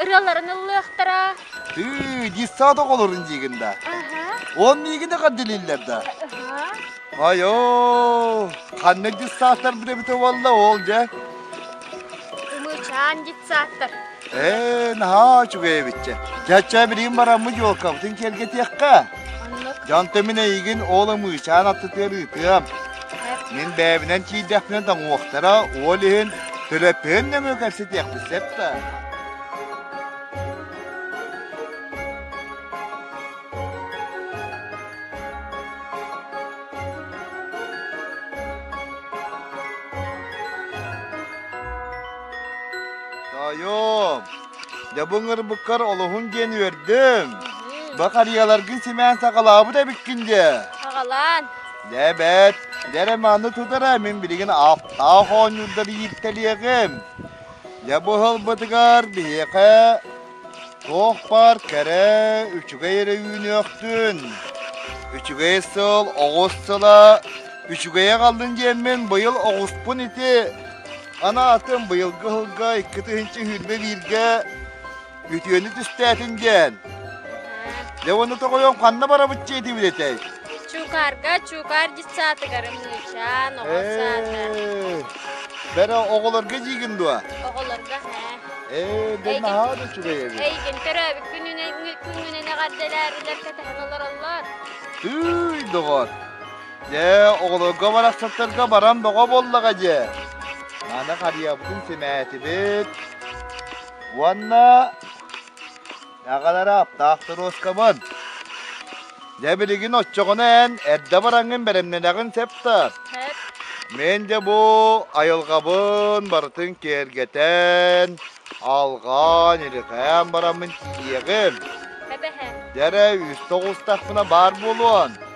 ырыаларын ыллыахтара. Тыы, детсад оҕолорун диигин да. Он миигин эҕэрдэлииллэр да. Айо, ханнык детсадтар бүтэбит уолла ол дьэ? Умучаан детсадтар. Ээ, наһаа үчүгэй эбитчэ. Чача билигин бараммыт елкабытын киэргэтиэххэ. Дьонтон мин эйигин уол ымыычаан аттытыар ыытыам. Мин бэйэбинэн киирдэхпинэ тоҥуохтара, уол иһин төлөппүһүн нөҥүө кэпсэтиэхпит сөп да. Тоойуом, Дьэ бу ыҥырбыккар олоһун диэн үөрдүм. Бу харыйаларгын симээн саҕалаабыт эбиккин дии. Саҕалаан. Дьэ эбээт, дьэ эрэ манны тутара мин билигин ааттаах оонньуурдар ииртэлиэҕим. Дьэ бу ылбытыгар биһиэхэ туох баар кэрэ үчүгэй эрэ үүнүөхтүн. Үчүгэй сыл оҕус сыла үчүгэйэ халлын диэммин быйыл оҕуспун ити Анаатым быйылгы ыһылга икки тыһыынча үүрмэ бииргэ үтүөнү түстээтин диэн. Дьэ уону тоҕойом ханна барабыччы этибит этэй? Чуукаарга чуукаар дьыссаатыгарын мыычаан, оҕо саата. Бэрэ оҕолорго диигин дуо? Оҕолорго һээ. Ээ, дэ Эйгин- наһаа да үчүгэй эбит. Эйгин төрөөбүт күнүнэн күннэнэн эҕэрдэлээрилэр кэтэһэн олороллор. Тыый, доҕор. Дьэ, оҕолорго барахсаттарга баран бөҕө буоллаҕа дьэ. Маны харыйабытын симээтибит. Уонна аҕалара аптаах туруоскабын. Дьэ билигин оччоҕуна эн эрдэ бараҥҥын бэлэмнэнэҕин сеп тар. Мен дьэ бу айылҕабын барытын киэргэтэн, алҕаан, илирҕээн бараммын тиийиэҕим. Дьэ эрэ үстэ оҕустахпына баар буолуон.